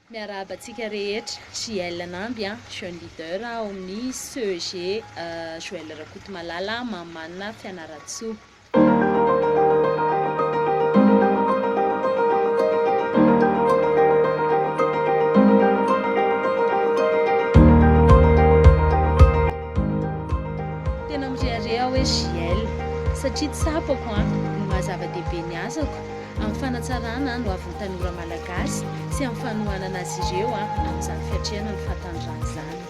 Miarahaba antsika rehetra, JL Namby an, Jeune Leader ao amin'ny CEG Joël Rakotomalala, Mamanina Fianarantsoa. Tena mirehareha aho hoe JL satria tsapako an, ny maha zava-dehibe ny. ny asako amin'ny fanatsarana ny hoavin'ny tanora malagasy sy amin'ny fanohanana azy ireo amin'izany fiatrehana ny fahataniran'ny zanany.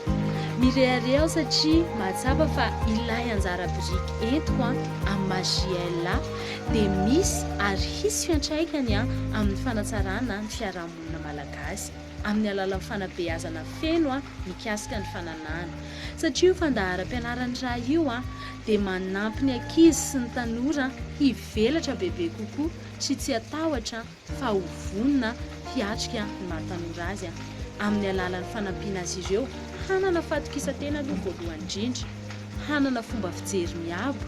Mirehareha aho satria mahatsapa fa ilay anjara biriky entiko amin'ny maha JLA dia misy ary hisy fiantraikany amin'ny fanatsarana ny fiarahamonina malagasy. amin'ny alalan'ny fanabeazana feno mikasika ny fananahana, satria io fandaharam-pianaran'ny ra io dia manampy ny ankizy sy ny tanora hivelatra bebe kokoa sy tsy hatahotra fa ho vonona hiatrika ny maha tanora azy amin'ny alalan'ny fanampiana azy ireo hanana fahatokisan-tena aloha voalohany indrindra, hanana fomba fijery miabo,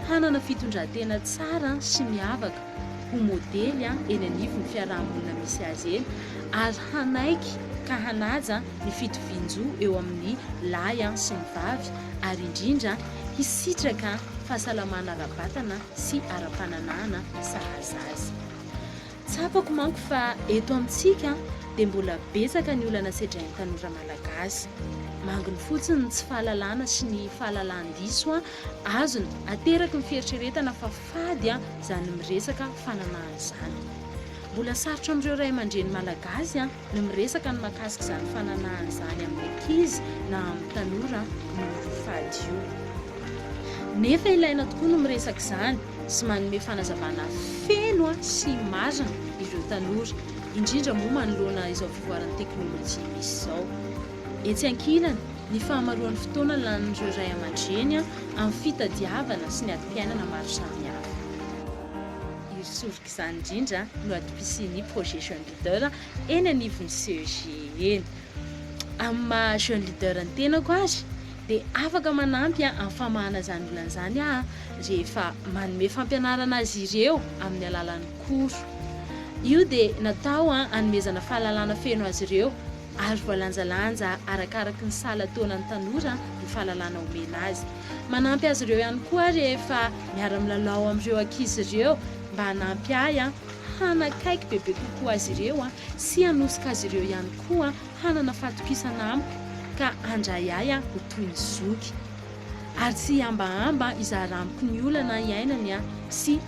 hanana fitondran-tena tsara sy miavaka. ho modely eny anivon'ny fiaraha-monina misy azy eny ary hanaiky ka hanaja ny fitovian-jo eo amin'ny lahy sy ny vavy ary indrindra hisitraka fahasalamana ara-batana sy ara-pananahana sahaza azy. Tsapako manko fa eto amintsika dia mbola betsaka ny olana sedrain'ny tanora malagasy. Manginy fotsiny ny tsy fahalalana sy ny fahalalan-diso azony ateraky ny fieritreretana fa Fady an zany miresaka fananahana zany. Mbola sarotra amin'ireo ray aman-dreny malagasy an ny miresaka ny makasika izany fananahana izany amin'ny ankizy na amin'ny tanora noho io fady io. Nefa ilaina tokoa ny miresaka izany sy manome fanazavana feno an sy marina ireo tanora, indrindra moa manoloana izao fivoaran'ny teknolojia misy izao. Etsy ankilany, ny fahamaroan'ny fotoana lanin'ireo ray aman-dreny amin'ny fitadiavana sy ny adim-piainana maro samihafa. Iry soroka izany indrindra no adim-pisian'ny Projet Jeune Leader eny anivon'ny CEG eny. Amin'ny maha Jeune Leader ny tenako ary dia afaka manampy amin'ny famahana izany olana izany aho rehefa manome fampianarana azy ireo amin'ny alalan'ny cours. Io dia natao hanomezana fahalalana feno azy ireo ary voalanjalanja arakaraky ny sahala taonan'ny tanora ny fahalalana omena azy. Manampy azy ireo ihany koa aho rehefa miara-milalao amin'ireo ankizy ireo mba hanampy ahy hanakaiky bebe kokoa azy ireo sy hanosika azy ireo ihany koa hanana fatokisana amiko ka handray ahy ho toy ny zoky ary tsy hihambahamba hizara amiko ny olana iainany sy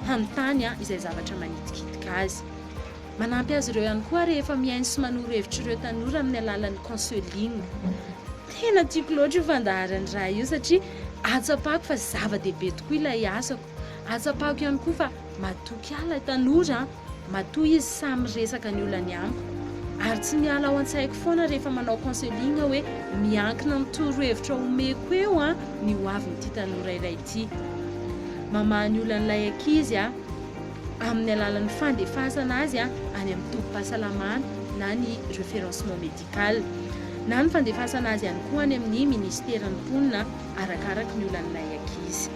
hanontany izay zavatra manitikitika azy. Manampy azy ireo ihany koa rehefa mihaino sy manoro hevitra ireo tanora amin'ny alalan'ny counseling. Tena tiako loatra io fandaharan'ny ra io satria ahatsapako fa zava-dehibe tokoa ilay asako. Ahatsapako ihany koa fa matoky ahy ilay tanora, matoa izy sahy miresaka ny olany amiko. Ary tsy miala ao an-tsaiko foana rehefa manao counseling aho hoe miankina amin'ny torohevitra omeko eo ny ho avin'ity tanora iray ity. ity. Mamaha ny olan'ilay ankizy amin'ny alalan'ny fandefasana azy any amin'ny tobim-pahasalamana na ny référencement médical, na ny fandefasana azy ihany koa any amin'ny minisiteran'ny mponina arakaraka ny olan'ilay ankizy.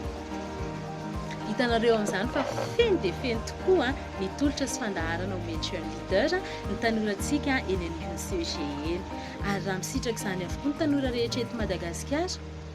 Hitanareo amin'izany fa feno dia feno tokoa ny tolotra sy fandaharana omen'ny Jeune Leader ny tanorantsika eny amin'ny UCG eny. Ary raha misitraka izany avokoa ny tanora rehetra eto Madagasikara,